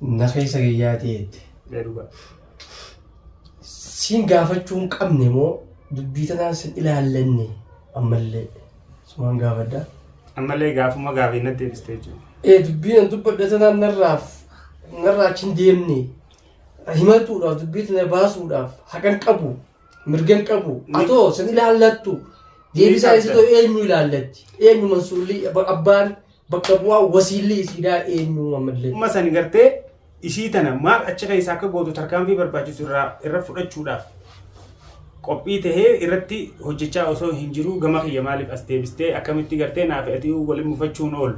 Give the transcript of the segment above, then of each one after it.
Na keessa gayyaatee jette. Mee dhugaa. Siin gaafachuu hin qabne moo dubbii tanaan sin ilaallanne ammallee sumaan gaafadha. Ammallee gaafuma gaafii na deebiste jechuudha. Ee dubbii nan dubbadha tanaan narraaf narraa achi hin deemne himatuudhaaf dubbii tana baasuudhaaf haqan qabu Mirgan qabu. Atoo sin ilaallattu. Deebisaa qabda. isitoo eenyu ilaallatti? Eenyu mansuulli abba- abbaan bakka bu'aa wasiilli isiidhaa eenyu ammallee? Dhuma san gartee isii tana maal achi keessa akka gootu tarkaanfii barbaachisu irraa irra fudhachuudhaaf qophii tahee irratti hojjechaa osoo hin jiruu gama kiyya maaliif as deebistee akkamitti gartee naaf ati waliin mufachuun oolu.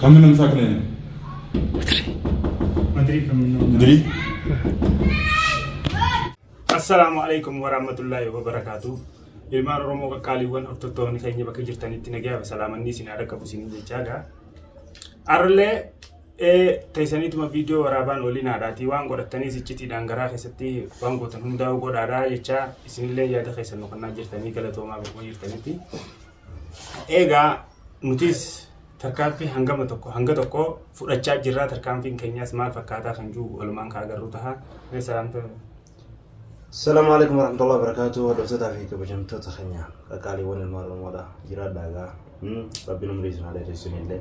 Kan minum sak ni? Madrid kan minum. Madrid. Assalamu alaikum warahmatullahi wabarakatuh. Ilmaan Oromoo qaqqaaliiwwan hordoftoonni keenya bakka jirtanitti nagaa fi salaamanni isin haadha qabu isin jechaadha. Arlee ee teeysaniituma viidiyoo waraabaan olii naadhaatii waan godhattaniis iccitiidhaan garaa keessatti waan gootan hundaa'uu godhaadhaa jechaa isinillee yaada keessan nu kennaa jirtanii galatoomaa bakkuma jirtanitti eegaa nutis tarkaanfii hangama tokko hanga tokko fudhachaa jirraa tarkaanfiin keenyaas maal fakkaataa kan jiru walumaan kaa agarru taha mee salaamta Salaamu alaikum warahmatullahi wabarakatuh hordoftoota fi kabajamtoota keenya qaqqaaliiwwan ilmaan oromoodha jiraadhaa egaa rabbiin umrii isin haa dheeressu illee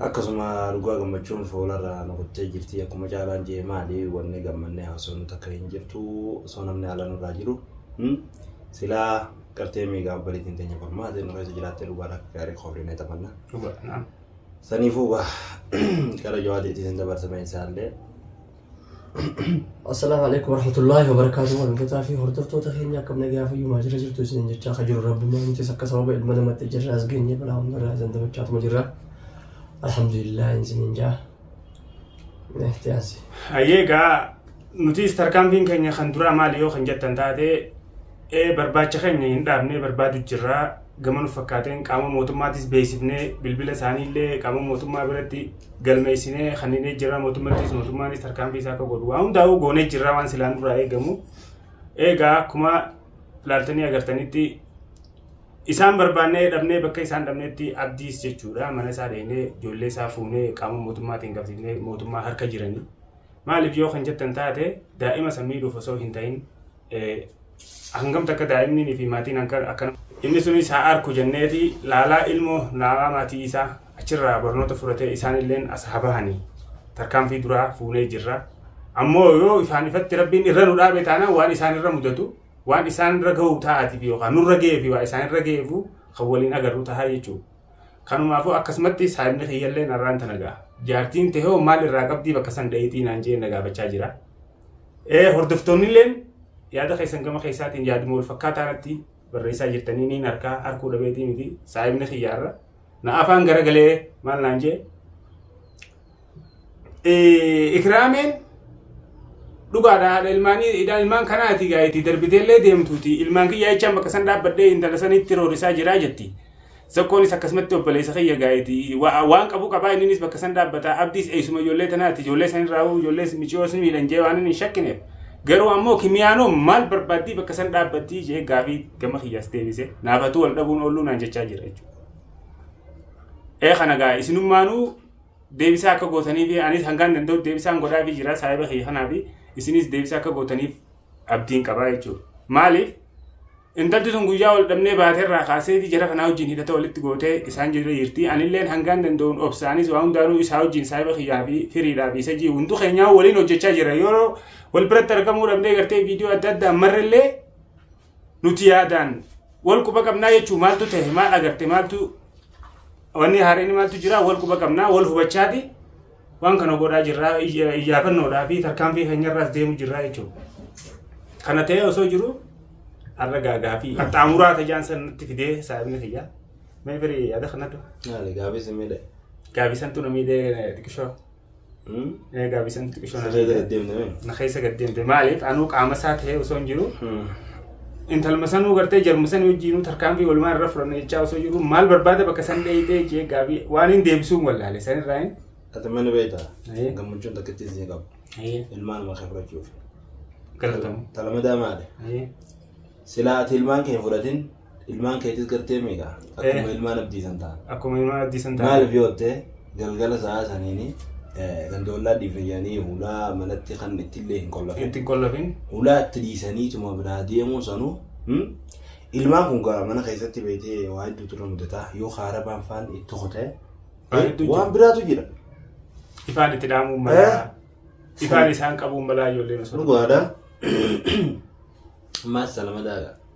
akkasuma dhugaa gammachuun fuularra nu kuttee jirti akkuma caalaan jee maali wanni gammannee haasofnu takka hin jirtu osoo namni haala nurraa jiru silaa qartee miigaa obbaliitiin teenya qormaatee nu keessa jiraattee dhugaadha akka gaarii koofrinee taphanna Dhugaadha. saniifuu gara jawaadiitiin dabarsamee isaallee Assalaamu alaikum warahmatullaahi wabarakaatu hordoftotaa fi hordoftoota keenya akkam nagaa fayyumaa jira jirtu isiniin jechaa ka jiru rabbumaa nutis akka sababa ilma namatti jirra as geenye balaa hundarraa isin damachaatuma jirra alhamdulillah isiniin jaa itti aansi Hayyee egaa nutis tarkaanfiin keenya kan duraa maali yoo kan jettan taate ee barbaacha keenya hin dhaabne barbaadu jirra gama nu fakkaateen qaama mootummaatis beeksifnee bilbila isaanii illee qaama mootummaa biratti galmeessinee kanneen jira mootummattis mootummaanis tarkaanfii isaa akka godhu waan hundaa'uu goonee jirra waan silaan duraa eegamu eegaa akkuma laaltanii agartanitti isaan barbaannee dhabnee bakka isaan dhabnetti abdiis jechuudha mana isaa dheenee ijoollee isaa fuunee qaama mootummaatiin qabsiifnee mootummaa harka jiranii maaliif yoo kan jettan taate daa'ima san miidhuuf osoo hin ta'in hangam takka daa'imni fi maatiin akkana inni sunis haa arku jenneeti laalaa ilmoo laalaa maatii isaa achirraa barnoota fudhatee isaanilleen as haa bahanii tarkaanfii duraa fuunee jirra. Ammoo yoo ifaan ifatti rabbiin irra nu dhaabe taanaan waan isaan irra mudatu waan isaan irra gahu ta'aatiif yookaan nurra ga'ee fi waa isaan irra ga'eefu kan waliin agarru tahaa jechuudha. Kanumaafuu akkasumatti saayibni kiyyallee narraan tana ga'a. Jaartiin tehoo maal irraa qabdii bakka san dha'iitii naan jee na gaafachaa jira. Eh, Hordoftoonnilleen yaada keessan gama keessaatiin yaaduma wal fakkaataa irratti barreessaa jirtanii niin harkaa harkuu dhabeetii miti saayibni kiyyaarra na afaan garagalee maal naan jee Eh, ikraameen dhugaadha haadha ilmaanii idaan ilmaan kanaati gaa'eeti darbiteellee deemtuuti ilmaan kiyyaa jechaan bakka san dhaabbadhee intala sanitti roorisaa jiraa jetti Zakoonis akkasumatti obboleessa kiyya gaa'eeti. Waan qabu qabaa inninis bakka san dhaabbata. Abdiis eessuma ijoollee tanaati. Ijoollee san irraa ijoollee miciyoos miidhan jee waan hin shakkineef. Garuu ammoo kimiyaanoo maal barbaaddii bakka san dhaabbattii jee gaafii gama kiyyaas deebise. Naafatu wal dhabuun oolluu naan jechaa jira jechuudha. Ee kana gaa isinummaanuu deebisaa akka gootanii fi anis hangaan danda'u deebisaan godhaa fi jira saayiba kiyya kanaa fi isinis deebisaa akka gootaniif abdiin qabaa jechuudha. Maaliif? Intalti tun guyyaa wal dhabnee baate irraa kaaseeti jara kanaa wajjin hidhata walitti gootee isaan jira jirti. Anilleen hangaan danda'uun obsaanis waa hundaanuu isaa wajjin saahiba kiyyaa fi firiidhaa fi isa jii hunduu keenyaa waliin hojjechaa jira. Yeroo wal biratti argamuu dhabnee gartee viidiyoo adda addaa marrillee nuti yaadaan wal quba qabnaa jechuu maaltu ta'e maal agarte maaltu wanni haareen maaltu jira wal quba qabnaa wal hubachaati. Waan kana godhaa jirra iyyaafannoodhaa fi tarkaanfii keenyarraas deemu jirra jechuudha. Kana ta'ee osoo jiru har'a gaagaa fi qaxxaamuraa tajaan san nutti fidee saabni kiyya. Mee firii yaada kana dha. Yaale gaafii si miidhe. Gaabisantu na miidhee xiqqishoo. Gaabisantu xiqqishoo na miidhee. Na keessa gad deemte maaliif anuu qaama isaa ta'ee osoo hin jiru. intalma sanuu gartee jarma sanii wajjiinuu tarkaanfii walumaan irra fudhanna jechaa osoo jiru maal barbaada bakka san dheeyxee jee gaabii waan hin deebisuun wallaale san irraa hin. Ati mana beekta. Ee. Gammachuun takkittii isin qabu. Ee, Ilmaan nama kan fudhachuuf. Galatamu. Talamadaa maali? Ee, Silaa ati ilmaan kee hin fudhatin ilmaan keetis gartee meeqa? Akkuma Eh. ilmaan abdiisan ta'a. Akkuma ilmaan abdiisan ta'a. Maaliif yoo ta'e galgala sa'aa saniini ganda ollaa dhiifayanii hulaa manatti kan ittillee hin qollafin. Itti qollafin. Hulaa itti dhiisanii tuma biraa deemuu sanuu ilmaan kun gara mana keessatti beekee waa hedduutu irra mudataa yoo haarabaan faan itti kutee waan biraatu jira. Ifaan itti dhaamuun malaa. Ifaan isaan qabuun malaa ijoolleen osoo. Dhugaadha. Maas salama daagaa.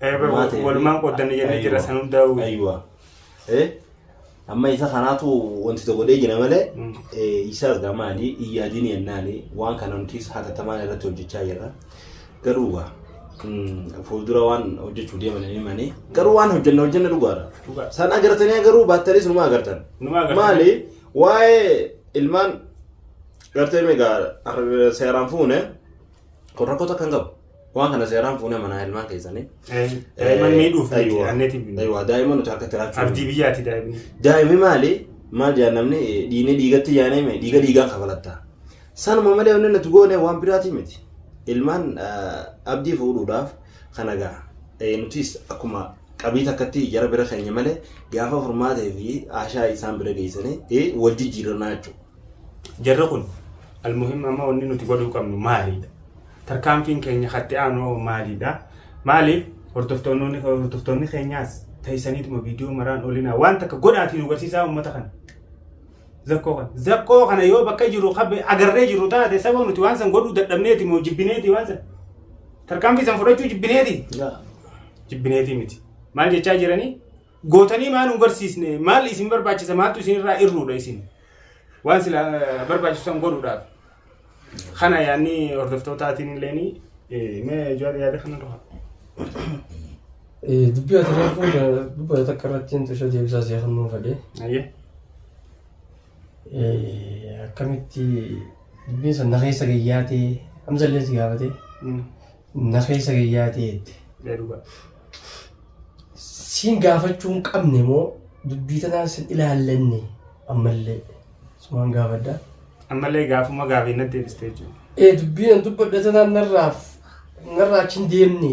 Eh, bar- Maal ta'e? walumaan qooddanne jennee Aywa. jirra san hundaa'u. Aywa. Eh? Amma isa kanaatu wanti tokko godhee jira malee Mm. eh, isaas gaa maali iyyaadiin yennaani waan kana nutis hatattamaan irratti hojjechaa jirra. Garuu gaa mm, fuuldura waan hojjechuu deeman hin himani. Garuu waan hojjenna hojjenna dhugaadha. Dhugaa. San agartanii agaruu baattanis numa agartan. Numa agartan. Maali waa'ee ilmaan gartee meegaa seeraan fuune kun rakkoo takka hin qabu. Waan kana seeraan fuunee manaa ilmaan keessanii. Daa'imman miidhuuf miti, Aywa. anneetiin miti. Aywa, daa'ima nuti harka tiraachuu. Abdii biyyaati daa'imni. Daa'imni maali? Maal jedhan namni eh, dhiigni dhiigatti yaanee mee dhiiga dhiigaan kafalatta. Sanuma malee wanni nuti goone waan biraatii miti. Ilmaan eh, abdii fuudhuudhaaf kana ga'a. Eh, Nutis akkuma qabii takkatti jara bira keenya malee gaafa furmaatee fi ashaa isaan bira geessanii eh, wal jijjiirannaa jechuudha. Jarri kun almuhim amma wanni nuti godhuu qabnu maalidha? Tarkaanfiin keenya katti aanu hoo maaliidha? Maaliif hordoftoonni keenyaas teessaniituma viidiyoo maraan olinaa waan takka godhaatii nu garsiisaa uummata kana. Zakkoo kana. Zakkoo kana yoo bakka jiru qabe agarree jiru taate saba nuti waan san godhuu dadhabneeti moo jibbineeti waan san. Tarkaanfii san fudhachuu jibbineeti. Jibbineetii miti. Maal jechaa jiranii? Gootanii maa nu garsiisne maal isin barbaachisa maaltu isin irraa irruudha isin. Waan sila barbaachisu san godhuudhaaf. Kana yaadni hordoftootaatiin illee ni mee jawaar yaada kana dura. Dubbii ati reefuu dubbata takka irratti hin tusha deebisaa si'a kan nuuf fedhe. Ayyee. Akkamitti dubbiin san na keessa gayyaatee amsa illee si gaafatee na keessa gayyaatee jette. Dhugaa. Siin gaafachuu hin qabne moo dubbii tanaan sin ilaallanne ammallee. Sumaan gaafadha. Ammallee gaafuma gaafii natti deebiste jechuudha. Ee dubbiin an dubbadhe tanaan narraaf narraa achi hin deemne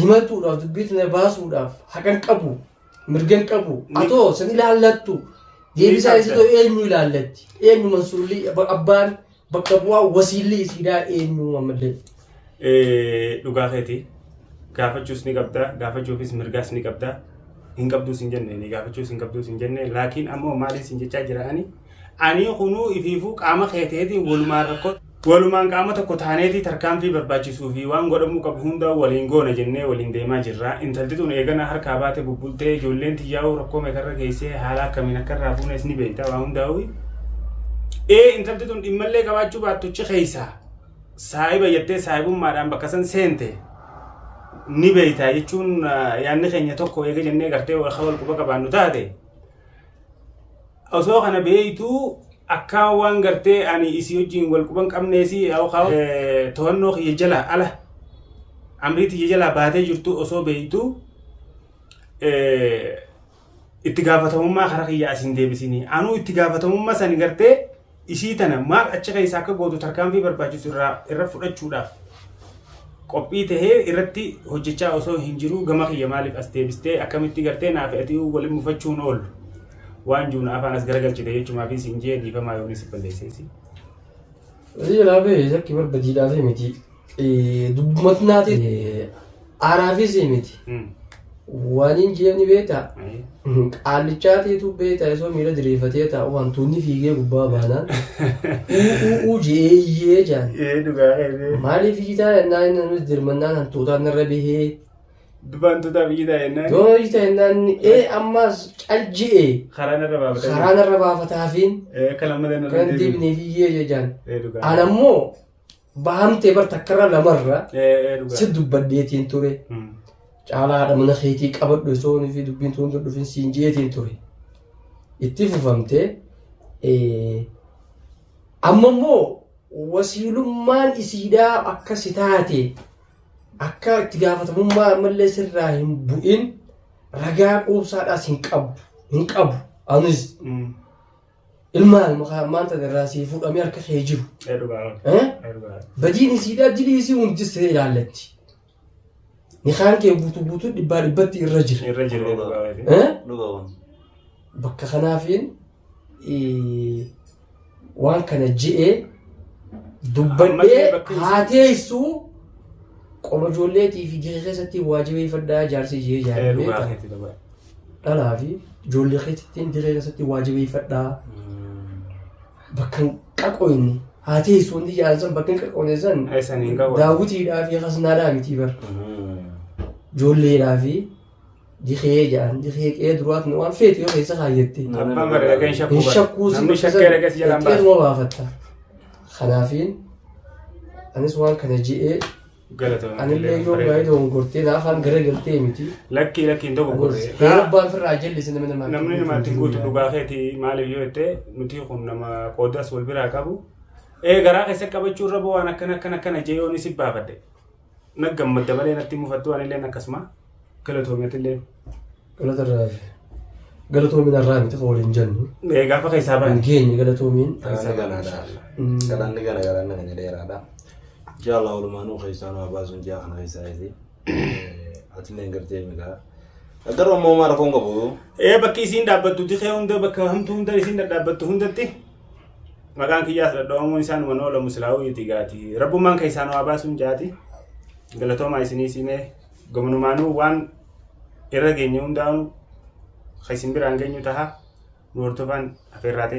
himatuudhaaf dubbii tana baasuudhaaf haqan qabu mirgan qabu Ni- atoo san ilaallattu deebisaa qabda. isa ta'u eenyu ilaallatti eenyu mansuurli abbaan Bakka bu'aa wasiilli isiidhaa eenyu ammallee? Eh, dhugaa keeti gaafachuus ni qabda gaafachuufis mirgaas ni qabda hin qabduus hin jenne ni gaafachuus hin qabduus hin jenne laakiin ammoo maaliin sin jechaa jira ani ani kunuu ifiifuu qaama keeteetiin walumaan rakkoo walumaan qaama tokko taaneetii tarkaanfii barbaachisuu fi waan godhamuu qabu hundaa waliin goona jennee waliin deemaa jirra intalti tun eegana harkaa baate bubbultee ijoolleen tiyyaa'uu rakkoo meeqarra geessee haala akkamiin akka irraa fuunes ni beekta waan hundaa'uu Ee intalti tun dhimmallee qabaachuu baattuchi keessa saahiba jettee saahibummaadhaan bakka san seente ni beeyta jechuun yaanni keenya tokko eega jennee gartee warra wal quba qabaannu taate. Osoo kana beeytuu akkaan waan gartee ani isii wajjin wal quban qabneesi yookaan to'annoo kiyya jalaa ala amrii tiyya jalaa baatee jirtu osoo beeytuu itti gaafatamummaa kara kiyya as hin deebisinii anuu itti gaafatamummaa sani gartee isii tana maal achi keessa akka gootu tarkaanfii barbaachisu irraa irra fudhachuudhaaf qophii tahee irratti hojjechaa osoo hin jiruu gama kiyya maaliif as deebistee akkamitti gartee naaf atii waliin mufachuun oolu waan juuna afaan as garagalchite jechumaa fi siin jee dhiifamaa yoonii si balleesseesi. Hojii laafee shakki barbadiidhaafii miti. Dubbumatti naati aaraafis miti. Waaniin jeen ni beektaa? Qaallichaatiitu beektaa isoo miila diriirfatee taa'u hantuunni fiigee gubbaa baanaan. Uuu jeeyyee jaan. Ee dhugaa keessee. Maaliif iyyitaa yennaa inni nuti dirmannaan hantuutaan irra bihee. Dubaan tutaa biyyi taa'ennaan. Yoo iyyitaa yennaa inni ee ammaas cal je'ee Karaan irra baafatanii. karaan irra baafataafiin Ee akka lammadan irra kan deebiin. deebinee fiiyyee jejaan. Ee dhugaa. Anammoo Bahamtee bar takkarra lamarra Ee dhugaa. si dubbadheetiin ture. Hmm. Caalaa haadha mana keetii qabadhu osoo inni fi dubbiin tun tun dhufin siin jeetiin ture. Itti fufamtee eh, amma immoo wasiilummaan isiidhaa akka si taate akka itti gaafatamummaa ammallee sirraa hin bu'in ragaa quubsaadhaas hin qabu hin qabu anis Hmm. Ilma ilma kaa maanta irraa sii fuudhamee harka kee jiru. Ee dhugaa miti. Eh? Ee dhugaa miti. Badiin isiidhaa dilii isii hundistee ilaallatti. Nikaan kee guutuu guutuu dhibbaa dhibbatti irra jira. Irra jira ee dhugaa miti. Eh? Dhuga kun. Bakka kanaafiin eh, waan kana je'ee Ammallee dubbadhee bakka isii- haa teessu qoma ijoolleetii fi gahee keessatti waajibeeffadhaa jaarsii jee Ee dhugaa jaarree miti dhugaa. dhalaa fi ijoollee keetittiin dirree keessatti waa jabeeffadhaa. Bakka hin qaqoyne haa teessu wanti jedhan san bakka hin qaqoyne san Eessan hin qabu. daawwitiidhaa fi kasnaadhaa mitii bara. Ijoolleedhaa fi dikee jedhan dikee qe'ee duraatti waan feetu yoo keessa kaayyatte. Abbaan bara dhaqee hin shakkuu Hin bara. shakkuu si Namni shakkee dhaqee si jalaan baasa. Qe'eedhuma baafatta. Kanaafiin anis waan kana je'ee Galatoomaa. Anillee yoo baay'ee dogongortee na afaan gara galtee miti. Lakkii lakkii hin tokko gorree. Heera abbaa ofirraa jallisi namni namaa. Namni namaatti guutu dhugaa keeti maaliif yoo jettee nuti kun nama qoodas wal biraa qabu. Ee garaa keessa qabachuu irra waan akkana akkana akkana jee yoon isin baafadhe. Na gammadda malee natti mufattu anilleen akkasuma. Galatoomi atillee. Galata irraa hafe. Galatoomiin har'aa miti kan waliin jennu. Mee gaafa keessaa Hin baane. geenye galatoomiin. Isa galaadha. Galanni gara garaa nama ni dheeraadha. Insha Allah walumaanuu keessaa nama baasuun ji'a kana keessaa isi. Atillee hin gartee migaa. Garuu ammoo maal rakkoon qabu? Ee bakki isiin dhaabbattu dikee hunda bakka hamtuu hunda isiin dhadhaabbattu hundatti maqaan kiyyaas dhadhabamuun isaan waan oolamu silaa'uu itti gaati. Rabbummaan keessaan waa baasuun jaati. Galatoomaa isinii simee. Gamanumaanuu waan irra geenye hundaanuu kan isin biraan geenyu taha nu hordofaan afeerraa ta'e.